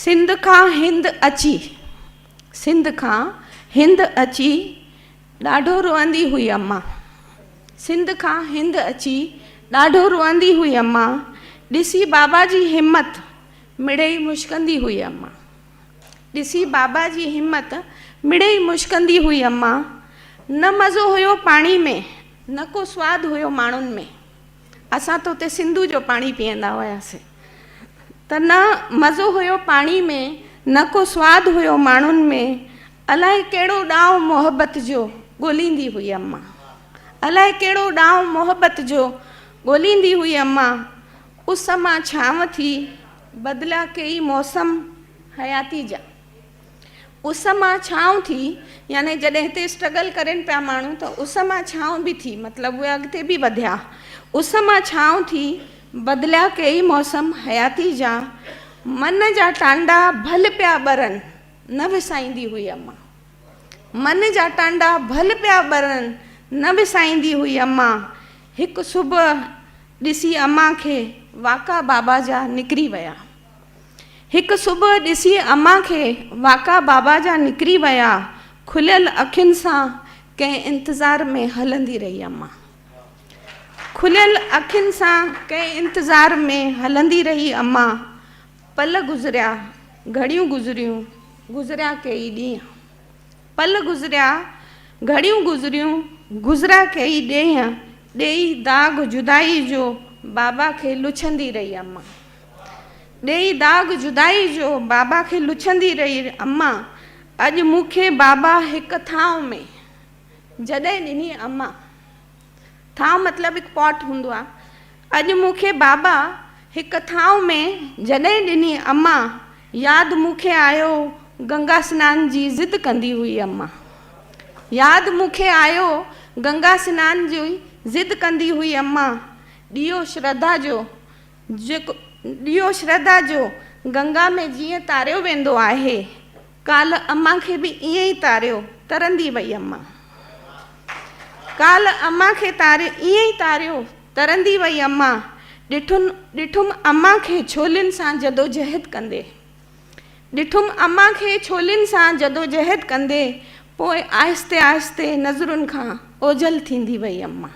سنڌ کان هند اچي، سنڌ کان هند اچي، ڏاڍو روئندي هئي امان، سنڌ کان هند اچي، ڏاڍو روئندي هئي امان، ڏسي بابا جي همت، مڙئي مشڪندي هئي امان، ڏسي بابا جي همت، مڙئي مشڪندي هئي امان، نه مزو هيو پاڻي ۾، نه ڪو سواد هيو ماڻهن ۾. اسان ته اتي سنڌو جو پاڻي پيئندا هياسين ته نه مزو هيو پاڻي ۾ نه ڪو سواد هيو ماڻهن ۾ الائي ڪهڙو ڏانء محبت جو ڳوليندي هئي امان الائي ڪهڙو ڏانء محبت جو ڳوليندي هئي امان اس مان ڇانو ٿي بدليا ڪيئي موسم حياتي جا اس مان ڇانو ٿي يعني جڏهن هتي اسٽرگل ڪرين پيا ماڻهو ته اس مان ڇانو به ٿي مطلب اهي اڳتي به وڌيا اس مان ڇانو ٿي بدليا ڪيئي موسم حياتي جا من جا ٽانڊا ڀل پيا ٻرن نه وسائيندي هئي اما من جا ٽانڊا ڀل پيا ٻرن نه وسائيندي هئي اما هڪ صبح ڏسي اما کي واڪا بابا جا نڪري ويا هڪ صبح ڏسي امان کي واڪا بابا جا نڪري ويا کليل اکين سان ڪنهن انتظار ۾ هلندي رهي امان کليل اکين سان ڪنهن انتظار ۾ هلندي رهي امان پل گذريا گهڙيون گذريون گذريا ڪيئي ڏينهن پل گذريا گهڙيون گذريون گذريا ڪيئي ڏينهن ڏيئي داغ جدائي جو بابا کي لڇندي رهي امان ڏيئي داغ جدائي جو، بابا کي لڇندي رهي امان، اڄ مون کي بابا هڪ ٿانء ۾ جڏهن ڏني امان، ٿانء مطلب هڪ پاٽ هوندو آهي، اڄ مون کي بابا هڪ ٿانء ۾ جڏهن ڏني امان، ياد مون کي آيو گنگا سنان جي ضد ڪندي هئي امان، ياد مون کي آيو گنگا سنان جي ضد ڪندي هئي امان، ڏيئو شرڌا جو، جيڪو ڏيئو شرڌا جو گنگا ۾ جيئن تاريو ويندو آهي، ڪالهه امان کي به ائين ئي تاريو، ترندي وئي امان. ڪالهه امان کي تاري ائين ئي تاريو، ترندي وئي امان، ڏٺن ڏٺم امان کي ڇولين سان جدوجهد ڪندي، ڏٺم امان کي ڇولين سان جدوجهد ڪندي، پوء آهستي آهستي نظرن کان اوجهل ٿيندي وئي امان.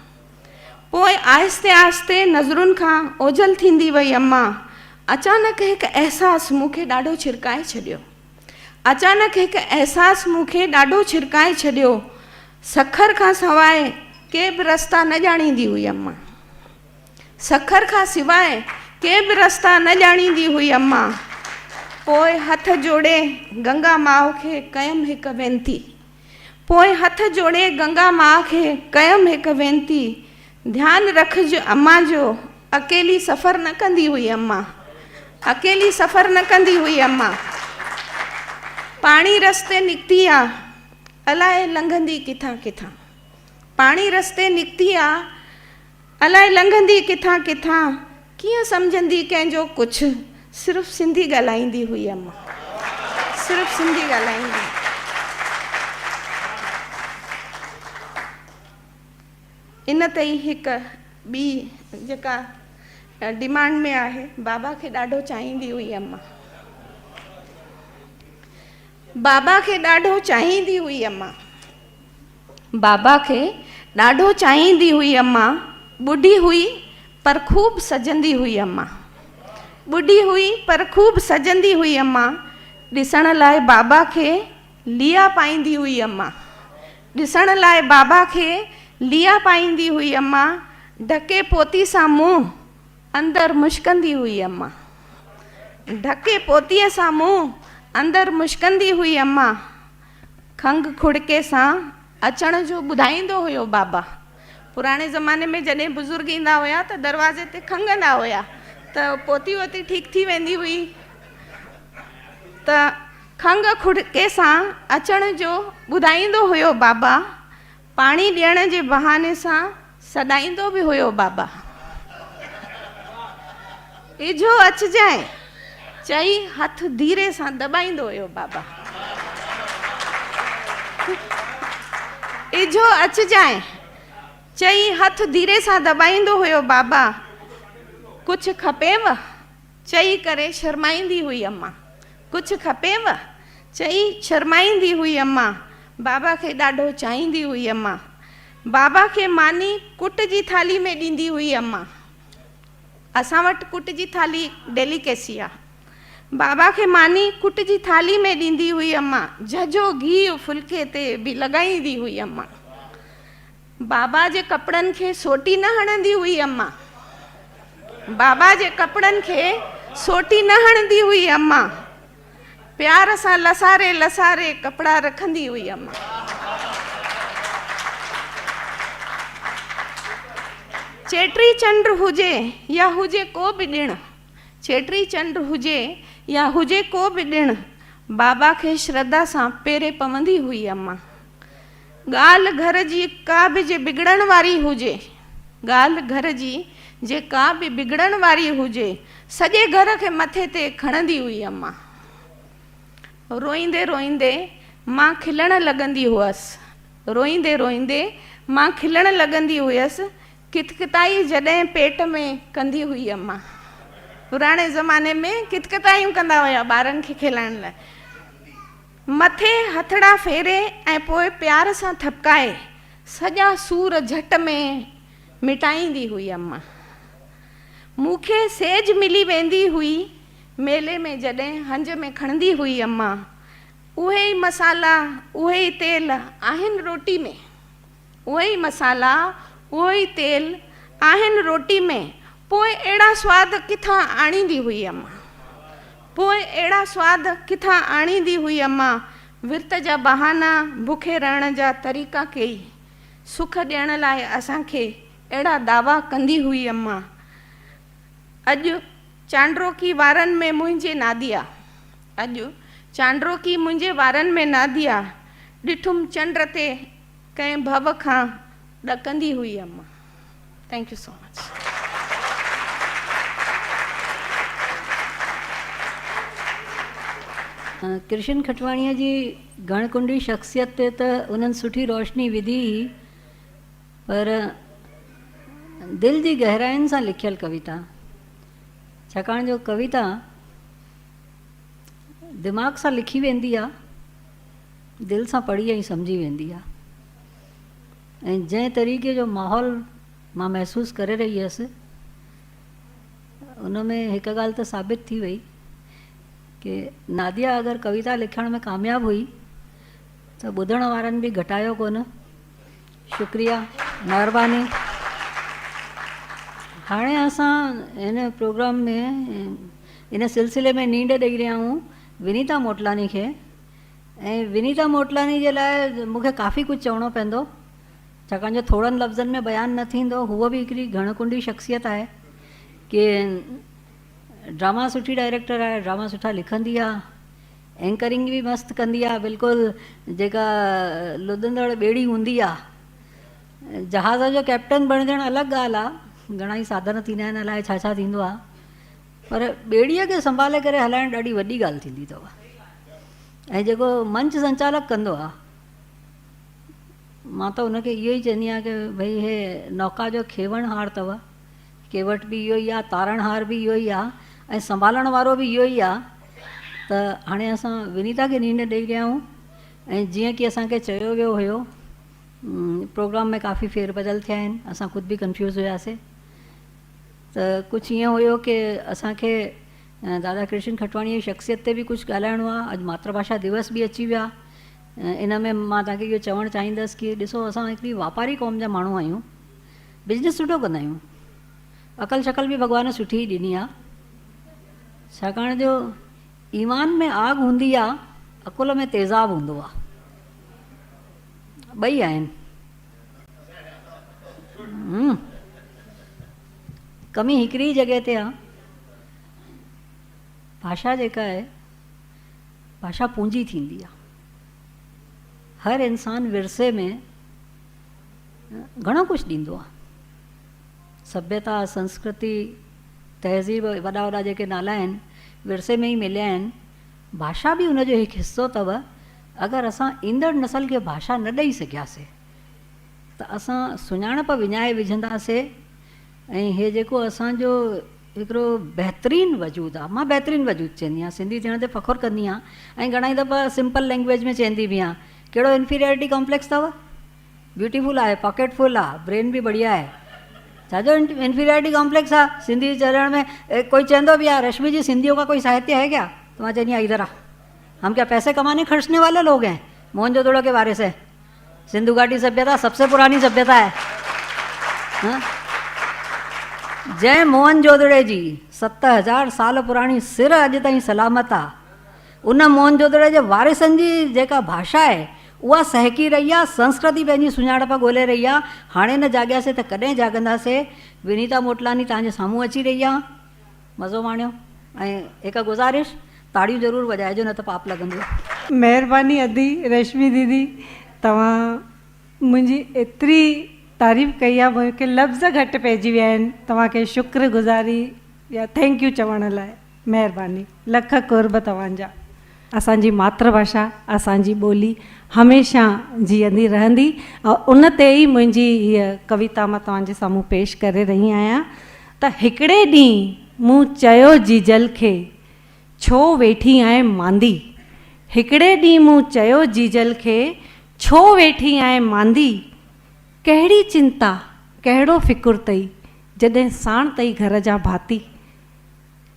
پوء آهستي آهستي نظرن کان اوجهل ٿيندي وئي اما! اچانڪ هڪ احساس مون کي ڏاڍو ڇرڪائي ڇڏيو. اچانڪ هڪ احساس مون کي ڏاڍو ڇرڪائي ڇڏيو. سکر کان سواء ڪي به رستا نه ڄاڻيندي هئي اما! سکر کان سواء ڪي به رستا نه ڄاڻيندي هئي اما! پوء هٿ جوڙي گنگا ماء کي ڪيم هڪ وينتي. پوء هٿ جوڙي گنگا ماء کي ڪيم هڪ وينتي، ڌيان رکج امان جو، اڪيلي سفر نه ڪندي هئي امان، اڪيلي سفر نه ڪندي هئي امان، پاڻي رستي نڪتي آ، الائي لنگهندي ڪٿان ڪٿان، پاڻي رستي نڪتي آ. الائي لنگهندي ڪٿان ڪٿان، ڪيئن سمجهندي ڪنهن جو ڪڇ. صرف سنڌي ڳالهائيندي هئي امان. صرف سنڌي ڳالهائيندي. ان تي ئي هڪ ٻي جيڪا ڊيمانڊ ۾ آهي، بابا کي ڏاڍو چاهيندي هئي امان. بابا کي ڏاڍو چاهيندي هئي امان. بابا کي ڏاڍو چاهيندي هئي اما، ٻڍي هئي پر خوب سجندي هئي اما، ٻڍي هئي پر خوب سجندي هئي اما، ڏسڻ لاء بابا کي ليئا پائيندي هئي اما، ڏسڻ لاء بابا کي ليئا پائيندي هئي اما، ڍڪي پوتي سان منهن اندر مشڪندي هئي اما، ڍڪي پوتيء سان منهن اندر مشڪندي هئي اما. کنگهه کڙڪي سان اچڻ جو ٻڌائيندو هيو بابا پراڻي زماني ۾ جڏهن بزرگ ايندا هيا ته دروازي تي کنگهندا هيا ته پوتي ووتي ٺيڪ ٿي ويندي هئي ته کنگهه کڙڪي سان اچڻ جو ٻڌائيندو هيو بابا پاڻي ڏيڻ جي بهاني سان سڏائيندو به هيو بابا ايجهو اچجانء چئي هٿ ڌيري سان دٻائيندو هيو بابا ايجهو اچجانء چئي هٿ ڌيري سان دٻائيندو هيو بابا ڪجهه کپيو چئي ڪري شرمائيندي هئي اما! ڪجهه کپينء؟ چئي شرمائيندي هئي اما! بابا کي ڏاڍو چاهيندي هئي اما! بابا کي ماني ڪٽ جي ٿالهي ۾ ڏيندي هئي اما! اسان وٽ ڪٽ جي ٿالهي ڊيليڪيسي آ. بابا کي ماني ڪٽ جي ٿالهي ۾ ڏيندي هئي اما! جهجهو گيهه ڦلڪي تي به لڳائيندي هئي اما! بابا جي ڪپڙن کي سوٽي نه هڻندي هئي امان بابا جي ڪپڙن کي سوٽي نه هڻندي هئي امان پيار سان لساري لساري ڪپڙا رکندي هئي امان چيٽي چنڊ هجي يا هجي ڪو به ڏڻ چيٽي چنڊ هجي يا هجي ڪو به ڏڻ بابا کي شرڌا سان پيري پوندي هئي امان ڳالهه گهر جي ڪا به جي بگڙڻ واري هجي، ڳالهه گهر جي جي ڪا به بگڙڻ واري هجي، سڄي گهر کي مٿي تي کڻندي هئي امان. روئيندي روئيندي مان کلڻ لڳندي هئس، روئيندي روئيندي مان کلڻ لڳندي هئس، ڪتڪتائي جڏهن پيٽ ۾ ڪندي هئي امان. پراڻي زماني ۾ ڪتڪتايون ڪندا هيا ٻارن کي کلائڻ لاء. مٿي هٿڙا ڦيري ۽ پوء پيار سان ٿپڪائي سڄا سور جهٽ ۾ مٽائيندي هئي اما مون کي سيج ملي ويندي هئي ميلي ۾ جڏهن هنج ۾ کڻندي هئي اما اهي ئي مسالا اهي ئي تيل آهن روٽي ۾. اهي ئي مصالحا، اهو ئي تيل آهن روٽي ۾، پوء اهڙا سواد ڪٿان آڻيندي هئي امان؟ پوء اهڙا سواد ڪٿان آڻيندي هئي امان؟ ورت جا بهانا، بکي رهڻ جا طريقا ڪيئي، سک ڏيڻ لاء اسان کي اهڙا دعويٰ ڪندي هئي امان. اڄ چانڊروڪي وارن ۾ منهنجي ناديا. اڄ چانڊروڪي منهنجي وارن ۾ ناديا. ڏٺم چنڊ تي ڪنهن ڀؤ کان ڏڪندي هئي اما thank you so much. Krishan کٽواڻيء جي گهڻ ڪنڊي شخصيت تي ته انهن سٺي روشني وڌي ئي پر دل جي گهراين سان لکيل ڪويتا ڇاڪاڻ جو ڪويتا دماغ سان لکي ويندي آ. دل سان پڙهي ۽ سمجهي ويندي آ ۽ جنهن طريقي جو ماحول مان محسوس ڪري رهي هيس ان ۾ هڪ ڳالهه ته ثابت ٿي وئي ڪي ناديا اگر ڪويتا لکڻ ۾ ڪامياب هئي ته ٻڌڻ وارن به گهٽايو ڪونه شڪريا مهرباني هاڻي اسان هن پروگرام ۾ ان سلسلي ۾ نينڊ ڏئي رهيا آهيون ونيتا موٽلاني کي ۽ ونيتا موٽلاني جي لاء مون کي ڪافي ڪجهه چوڻو پوندو ڇاڪاڻ جو ٿورن لفظن ۾ بيان نه ٿيندو هوء به هڪڙي گهڻ ڪنڊي شخصيت آهي ڪي ڊراما سٺي ڊائريڪٽر آهي ڊراما سٺا لکندي آهي اينڪرنگ به مست ڪندي آهي بلڪل جيڪا لڏندڙ ٻيڙي هوندي آهي جهاز جو ڪئپٽن بڻجڻ الڳ ڳالهه آهي گهڻا ئي ساڌن ٿيندا آهن الاء ڇا ڇا ٿيندو آهي پر ٻيڙيء کي سنڀالي ڪري هلائڻ ڏاڍي وڏي ڳالهه ٿيندي اٿو ۽ جيڪو منچ سنچالڪ ڪندو آهي مان ته ان کي اهو ئي چوندي آهيان ڪي ڀئي هي نوڪا جو کيوڻهار اٿو ڪيوٽ به اهو ئي آهي تارڻهار به اهو ئي آهي ۽ سنڀالڻ وارو به اهو ئي آهي ته هاڻي اسان ونيتا کي نينهن ڏئي رهيا آهيون ۽ جيئن ڪي اسان کي چيو ويو هيو پروگرام ۾ ڪافي ڦير بدل ٿيا آهن اسان خود به ڪنفيوز هياسي ته ڪجهه ائين هيو ڪي اسان کي دادا ڪرشن کٽواڻيء جي شخصيت تي به ڪجهه ڳالهائڻو آهي. اڄ ماتر ڀاشا ديوس به اچي ويا. ان ۾ مان توهان کي اهو چوڻ چاهيندس ڪي ڏسو اسان هڪڙي واپاري قوم جا ماڻهو آهيون. بزنس سٺو ڪندا آهيون. عقل شقل به ڀڳوان سٺي ئي ڏني آهي. ڇاڪاڻ جو ايمان ۾ آگ هوندي آهي، عقل ۾ تيزاب هوندو آهي. ٻئي آهن. ڪمي هڪڙي ئي جڳهه تي آ، ڀاشا جيڪا آهي، ڀاشا پونجي ٿيندي آ. هر انسان ورثي ۾ گهڻو ڪجهه ڏيندو آ. سڀيتا، سنسڪرتي، تهذيب، وڏا وڏا جيڪي نالا آهن، ورثي ۾ ئي مليا آهن. ڀاشا به ان جو هڪ حصو اٿو، اگر اسان ايندڙ نسل کي ڀاشا نه ڏئي سگهياسي ته اسان سڃاڻپ وڃائي وجهنداسي ۽ هي جيڪو اسان جو هڪڙو بهترين وجود آ، مان بهترين وجود چيندي آهيان، سنڌي ٿيڻ تي فخر ڪندي آهيان ۽ گهڻائي دفعا سمپل لينگويج ۾ چيندي به آهيان، ڪهڙو انفيريارٽي ڪامپليڪس اٿو؟ بيوٽيفل آهي پاڪيٽ فل آ برين به بڙيا آهي ڇاجو انفيريارٽي ڪامپليڪس آ سنڌي چرڻ ۾ ڪوئي چوندو به آ رشمي جي سنڌيو ڪا ڪوئي ساهتيه هي ڪيا ته مان چوندي آهيان ادھر آ هم ڪيا پئسي ڪماني خرچني والي لوگ هين موهن جو دڙو ڪي وارث هين سنڌو گهاٽي سڀيتا سب سي پراني سڀيتا هي جنهن موهن جودڙي جي ست هزار سال پراڻي سر اڄ تائين سلامت آ ان موهن جودڙي جي وارثن جي جيڪا ڀاشا آهي اها سهڪي رهي آ، سنسڪرتي پنهنجي سڃاڻپ ڳولهي رهي آ، هاڻي نه جاڳياسي ته ڪڏهن جاڳنداسي، ونيتا موٽلاني توهان جي سامهون اچي رهي آ، مزو ماڻيو ۽ هڪ گذارش تاڙيون ضرور وڄائجو نه ته پاپ لڳندو. مهرباني ادي رشمي ديدي توهان منهنجي ايتري تعريف ڪئي آ مون کي لفظ گهٽ پئجي ويا آهن توهان کي شڪر گذاري يا ٿينڪ يو چوڻ لاء. مهرباني لک قرب توهان جا. اسان جي ماتر ڀاشا اسان جي ٻولي هميشه جيئندي رهندي ۽ ان تي ئي منهنجي هيء ڪويتا مان توهان جي سامهون پيش ڪري رهي آهيان ته هڪڙي ڏينهن مون چيو جيجل کي ڇو ويٺي آهين ماندي هڪڙي ڏينهن مون چيو جيجل کي ڇو ويٺي آهين ماندي ڪهڙي چنتا ڪهڙو فڪر تئي جڏهن ساڻ تئي گهر جا ڀاتي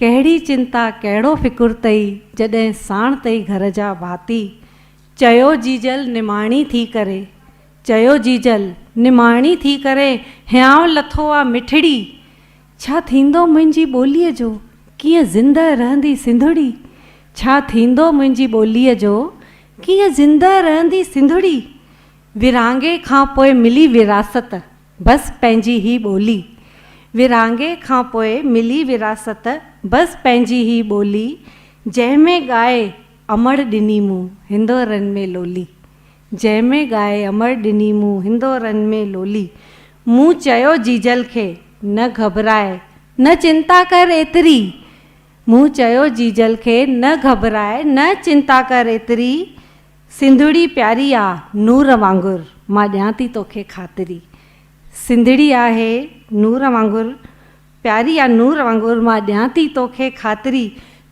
ڪهڙي چنتا ڪهڙو فڪر تئي جڏهن ساڻ تئي گهر جا ڀاتي. چيو جيجل نماڻي ٿي ڪري. چيو جيجل نماڻي ٿي ڪري هيانء لٿو آ مٺڙي. ڇا ٿيندو منهنجي ٻوليء جو ڪيئن زندهه رهندي سنڌڙي. ڇا ٿيندو منهنجي ٻوليء جو ڪيئن زندهه رهندي سنڌڙي. ورهاڱي کان پوء ملي وراثت بس پنهنجي هي ٻولي. ورهاڱي کان پوء ملي وراثت بس پنهنجي هي ٻولي جنهن ۾ ڳائي امڙ ڏني مون هندورن ۾ لولي جنهن ۾ ڳائي امڙ ڏني مون هندورن ۾ لولي مون چيو جيجل کي نه گهٻراء نه چنتا ڪر ايتري مون چيو جيجل کي نه گهٻراء نه چنتا ڪر ايتري سنڌڙي پياري آ نور وانگر مان ڏيان ٿي توکي خاطري سنڌڙي آهي نور وانگر پياري آ نور وانگر مان ڏيان ٿي توکي خاطري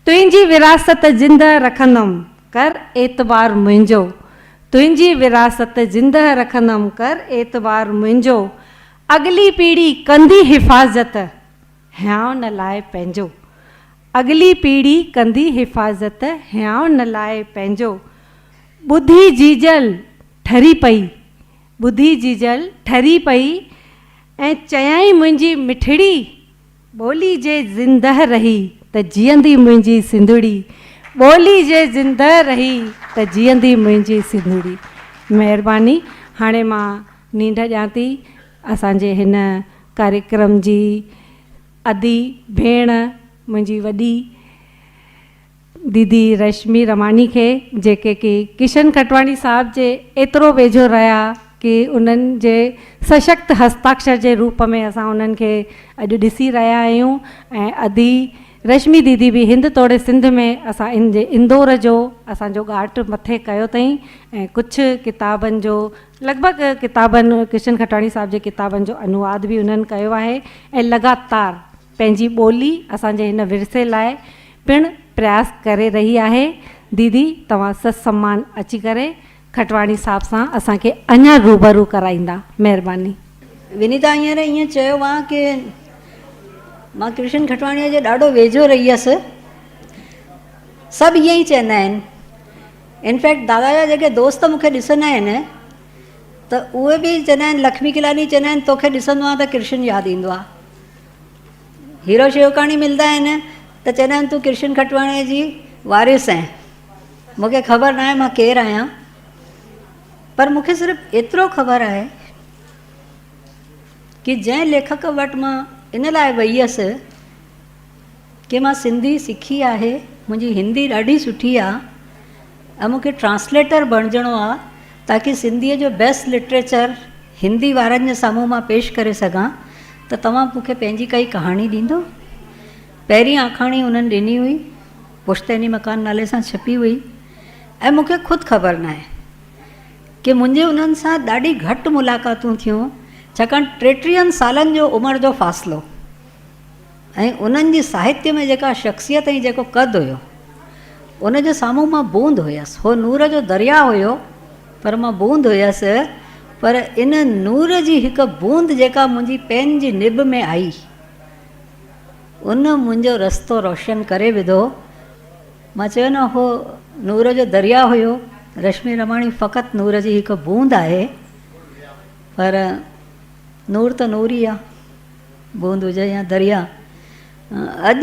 تنهنجي وراثت زندهه رکندم ڪر اعتبار منهنجو تنهنجي وراثت زندهه رکندم ڪر اعتبار منهنجو اڳلي پيڙهي ڪندي حفاظت هيانء نه لاء پنهنجو اڳلي پيڙهي ڪندي حفاظت هيانء لاء پنهنجو ٻڌي جيجل ٺري پئي ٻڌي جيجل ٺري پئي ۽ چيائين منهنجي مٺڙي ٻولي جي زندهه رهي ته جيئندي منهنجي سنڌڙي ٻولي جي زندهه رهي ته جيئندي منهنجي سنڌڙي مهرباني هاڻي مان نينڍ ڏيان ٿي اسان جي هن ڪاريڪرم جي ادي ڀيڻ منهنجي وڏي ديدي رشمي رماني کي جيڪي ڪي ڪشن کٽواڻي صاحب جي ايترو ويجهو رهيا ڪي انهن جي سشڪت هستاڪشر جي روپ ۾ اسان انهن کي اڄ ڏسي رهيا آهيون ۽ ادي رشمي ديدي به هند توڙي سنڌ ۾ اسان ان جي اندور جو اسان جو ڳاٽ مٿي ڪيو تئين ۽ ڪڇ ڪتابن جو لڳ ڀڳ ڪتابن، ڪرشن کٽاڻي صاحب جي ڪتابن جو انواد به انهن ڪيو آهي ۽ لڳاتار پنهنجي ٻولي اسان جي هن ورثي لاء پڻ پرياس ڪري رهي آهي. ديدي توهان سچ سمان اچي ڪري کٽواڻي صاحب سان اسان کي اڃا روبرو ڪرائيندا. مهرباني. ونيتا هينئر ائين چيو ها ڪي مان ڪرشن کٽواڻيء جي ڏاڍو ويجهو رهي هيس. سڀ ائين ئي چئندا آهن. ان فيڪٽ دادا جا جيڪي دوست مون کي ڏسندا آهن ته اهي به چوندا آهن لکمي ڪلاڻي چوندا آهن توکي ڏسندو آهيان ته ڪرشن ياد ايندو آهي. هيرو شيوڪاڻي ملندا آهن ته چوندا آهن تون ڪرشن کٽواڻي جي وارث آهين. مون کي خبر ناهي مان ڪير آهيان پر مون کي صرف ايترو خبر آهي ڪي جنهن ليکڪ وٽ مان ان لاء وئي هيس ڪي مان سنڌي سکي آهي منهنجي هندي ڏاڍي سٺي آ ۽ مونکي ٽرانسليٽر بڻجڻو آ تاڪي سنڌي جو بيسٽ لٽريچر هندي وارن جي سامهون مان پيش ڪري سگهان ته توهان مونکي پنهنجي ڪائي ڪهاڻي ڏيندو پهرين آکاڻي انهن ڏني هئي پشتيني مڪان نالي سان ڇپي هئي ۽ مونکي خود خبر ناهي ڪي منهنجي انهن سان ڏاڍي گهٽ ملاقاتون ٿيون ڇاڪاڻ ٽيٽيهن سالن جو عمر جو فاصلو ۽ انهن جي ساهتيه ۾ جيڪا شخصيت ۽ جيڪو قد هيو، ان جي سامهون مان بوند هيس. هو نور جو درياء هيو، پر مان بوند هيس، پر ان نور جي هڪ بوند جيڪا منهنجي پين جي نب ۾ آئي، ان منهنجو رستو روشن ڪري وڌو. مان چيو نه، هو نور جو درياء هيو. رشمي رماڻي فقط نور جي هڪ بوند آهي، پر نور ته نور ئي آ. بوند هجي يا درياء. اڄ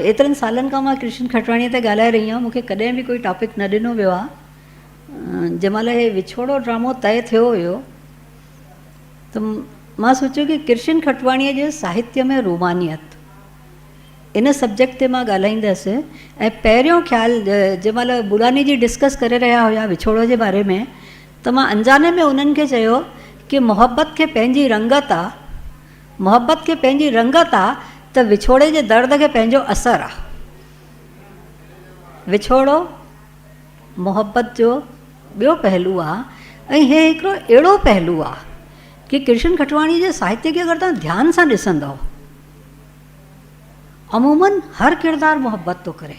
ايترن سالن کان مان ڪرشن کٽواڻيء تي ڳالهائي رهي آهيان، مون کي ڪڏهن به ڪوئي ٽاپڪ نه ڏنو ويو آهي. جنهن مهل هي وڇوڙو ڊرامو طئي ٿيو هيو ته مان سوچيو ڪي ڪرشن کٽواڻيء جي ساهتيه ۾ رومانيت ان سبجيڪٽ تي مان ڳالهائيندس ۽ پهريون خيال جنهن مهل بوڙاني جي ڊسڪس ڪري رهيا هيا وڇوڙو جي باري ۾ ته مان انجاني ۾ انهن کي چيو ڪي محبت کي پنهنجي رنگت آ، محبت کي پنهنجي رنگت آ ته وڇوڙي جي درد کي پنهنجو اثر آ. وڇوڙو محبت جو ٻيو پهلو آ ۽ هي هڪڙو اهڙو پهلو آ ڪي ڪرشن کٽواڻي جي ساهتيه کي اگر توهان ڌيان سان ڏسندؤ عمومن هر ڪردار محبت ٿو ڪري.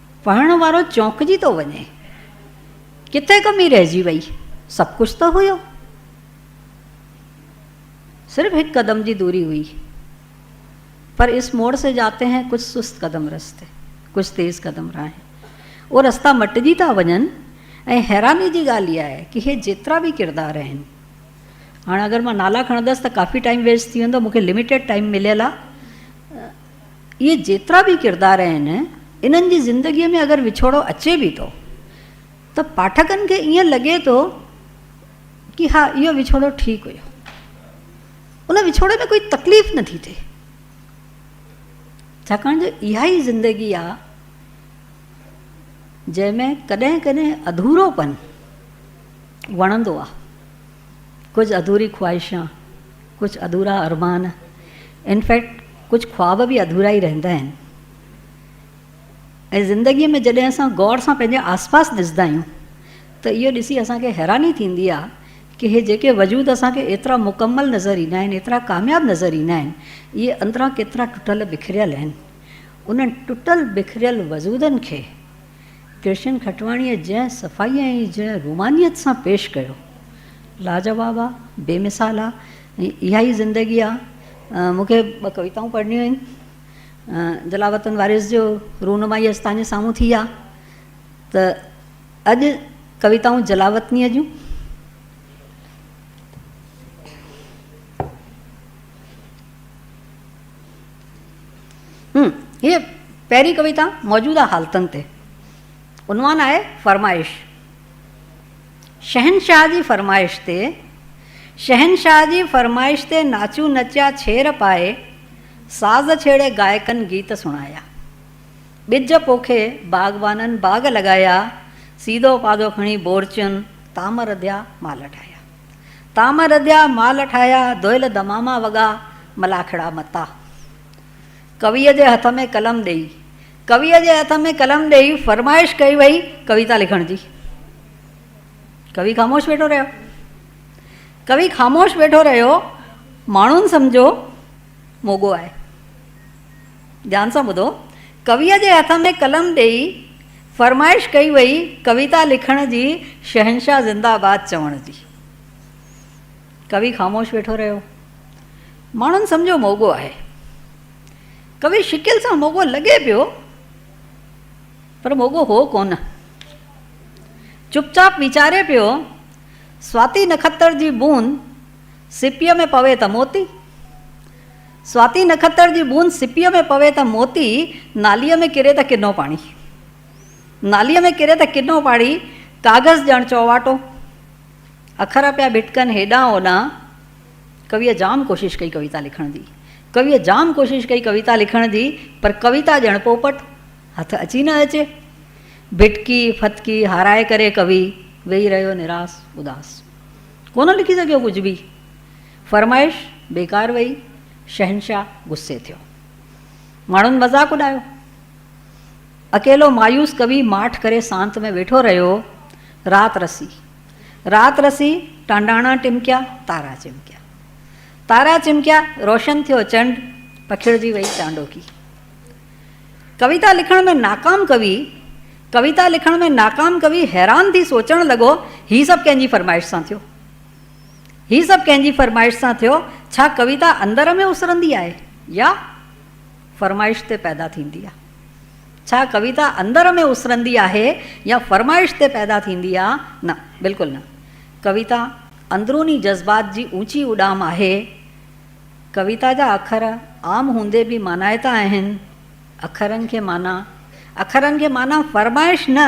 پڙهڻ وارو چونڪجي ٿو وڃي، ڪٿي ڪمي رهجي وئي، سڀ ڪجهه ته هيو. صرف هڪ قدم جي دوري هئي، پر اس موڙ سي جاتي هين ڪجهه سست قدم رستي، ڪجهه تيز قدم راهين. اهي رستا مٽجي ٿا وڃن ۽ حيراني جي ڳالهه اها آهي ڪي هي جيترا به ڪردار آهن، هاڻ اگر مان نالا کڻندس ته ڪافي ٽائيم ويسٽ ٿي ويندو، مون کي لميٽيڊ ٽائيم مليل آهي. اهي جيترا به ڪردار آهن، انهن جي زندگيء ۾ اگر وڇوڙو اچي به ٿو ته پاٺڪن کي ائين لڳي ٿو ڪي ها اهو وڇوڙو ٺيڪ هيو. ان وڇوڙي ۾ ڪوئي تڪليف نه ٿي ٿئي. ڇاڪاڻ جو اها ئي زندگي آ جنهن ۾ ڪڏهن ڪڏهن اڌورو پن وڻندو آ، ڪجهه اڌوري خواهشان، ڪجهه اڌورا ارمان ان فيڪٽ ڪجهه خواب به اڌورا ئي رهندا آهن ۽ زندگي ۾ جڏهن اسان غور سان پنهنجي آسپاس ڏسدا آهيون ته اهو ڏسي اسان کي حيراني ٿيندي آهي ڪه هي جيڪي وجود اسان کي ايترا مڪمل نظر ايندا آهن ايترا ڪامياب نظر ايندا آهن اهي اندران ڪيترا ٽٽل بکريل آهن انهن ٽٽل بکريل وجودن کي ڪرشن کٽواڻيء جنهن صفائيء ۽ جنهن رومانيت سان پيش ڪيو، لاجواب آ، بي مثال آ ۽ اها ئي زندگي آ. مون کي ٻه ڪويتائون پڙهڻيون آهن. جلال وطن وارث جو رونمائي اڄ تهان جي سامهون ٿي آ ته اڄ ڪويتائون جلال وطنيء جون. هيء پهرين ڪويتا موجوده حالتن تي عنوان آهي فرمائش. شهنشاهه جي فرمائش تي شهنشاهه جي فرمائش تي ناچون نچيا ڇير پائي ساز ڇيڙي گائڪن گيت سڻايا ٻج پوکي باغبانن باغ لڳايا سيڌو پاڌو کڻي بورچين تام رڌيا مال ٺاهيا. تام رڌيا مال ٺاهيا، دهل دماما وڳا، ملاکڙا متا. ڪويء جي هٿ ۾ قلم ڏيئي. ڪويء جي هٿ ۾ قلم ڏيئي فرمائش ڪئي وئي ڪويتا لکڻ جي. ڪوي خاموش ويٺو رهيو. ڪوي خاموش ويٺو رهيو. ماڻهن سمجهيو موڳو آهي. ڌيان سان ٻڌو. ڪويء جي هٿ ۾ قلم ڏيئي فرمائش ڪئي وئي ڪويتا لکڻ جي شهنشاهه زنده باد چوڻ جي. ڪوي خاموش ويٺو رهيو. ماڻهن سمجهيو موڳو آهي. ڪوي شڪل سان موڳو لڳي پيو پر موڳو هو ڪونه. چپ چاپ ويچاري پيو سواتي نکتر جي بوند سپيء ۾ پوي ته موتي. سواتي نکتر جي بوند سپيء ۾ پوي ته موتي، ناليء ۾ ڪري ته ڪنو پاڻي. ناليء ۾ ڪري ته ڪنو پاڻي، ڪاغذ ڄڻ چؤواٽو. اکر پيا ڀٽڪن هيڏانهن هوڏانهن. ڪويء جام ڪوشش ڪئي ڪويتا لکڻ جي. ڪويء جام ڪوشش ڪئي ڪويتا لکڻ جي، پر ڪويتا ڄڻ پوپٽ، هٿ اچي نه اچي. ڀٽڪي ڦٿڪي هارائي ڪري ڪوي ويهي رهيو نراس اداس. ڪونه لکي سگهيو ڪجهه به. فرمائش بيڪار وئي، شهنشاهه غصي ٿيو. ماڻهن مذاق اڏايو. اڪيلو مايوس ڪوي ماٺ ڪري سانت ۾ ويٺو رهيو. رات رسي. رات رسي، ٽانڊاڻا ٽمڪيا، تارا چمڪيا. تارا چمڪيا، روشن ٿيو چنڊ، پکڙجي وئي چانڊوڪي. ڪويتا لکڻ ۾ ناڪام ڪوي، ڪويتا لکڻ ۾ ناڪام ڪوي حيران ٿي سوچڻ لڳو، هي سڀ ڪنهن جي فرمائش سان ٿيو؟ هي سڀ ڪنهن جي فرمائش سان ٿيو؟ ڇا ڪويتا اندر ۾ اسرندي آهي يا فرمائش تي پيدا ٿيندي آهي؟ ڇا ڪويتا اندر ۾ اسرندي آهي يا فرمائش تي پيدا ٿيندي آهي؟ نه، بلڪل نه. ڪويتا اندروني جذبات جي اوچي اڏام آهي. ڪويتا جا اکر عام هوندي به مانائتا آهن. اکرن کي مانا اکرن کي مانا فرمائش نه.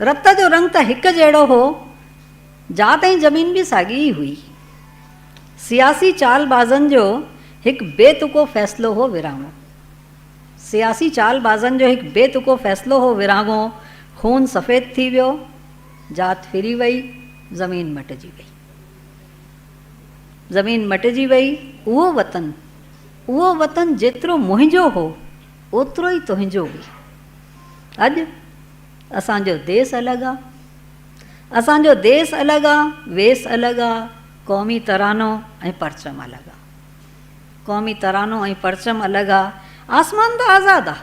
رت جو رنگ ته هڪ جهڙو هو، ذات ۽ زمين به ساڳي ئي هئي. سياسي چال بازن جو هڪ بي تڪو فيصلو هو ورهاڱو. سياسي چال بازن جو هڪ بي تڪو فيصلو هو ورهاڱو، خون سفيد ٿي ويو، ذات ڦري وئي، زمين مٽجي وئي. زمين مٽجي وئي، اهو وطن، اهو وطن جيترو منهنجو هو، اوترو ئي تنهنجو به. اڄ اسان جو ديس الڳ آ. اسان جو ديس الڳ آ، ويس الڳ آ، قومي ترانو ۽ پرچم الڳ آ. قومي ترانو ۽ پرچم الڳ آ. آسمان ته آزاد آ.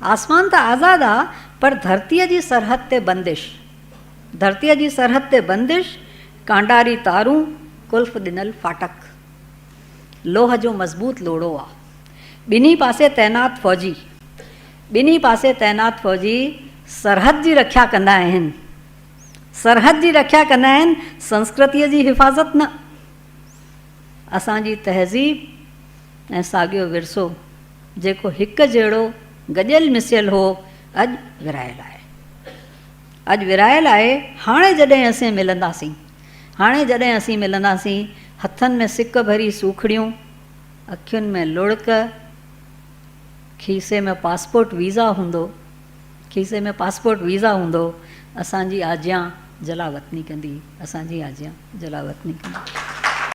آسمان ته آزاد آ پر ڌرتيء جي سرحد تي بندش. ڌرتيء جي سرحد تي بندش، ڪانڊاري تارون، قلف ڏنل ڦاٽڪ. لوهه جو مضبوط لوڙهو آ. ٻنهي پاسي تعينات فوجي ٻنهي پاسي تعينات فوجي سرحد جي رکيا ڪندا آهن. سرحد جي رکيا ڪندا آهن سنسڪرتيء جي حفاظت نه. اسان جي تهذيب ۽ ساڳيو ورثو جيڪو هڪ جهڙو گڏيل مسيل هو اڄ ورهايل آهي. اڄ ورهايل آهي هاڻي جڏهن اسين ملنداسين هاڻي جڏهن اسين ملنداسين هٿن ۾ سڪ ڀري سوکڙيون اکين ۾ لڙڪ، کيسي ۾ پاسپورٽ ويزا هوندو، کيسي ۾ پاسپورٽ ويزا هوندو، اسان جي آجيان جلاوطني ڪندي، اسان جي آجيان جلاوطني ڪندي.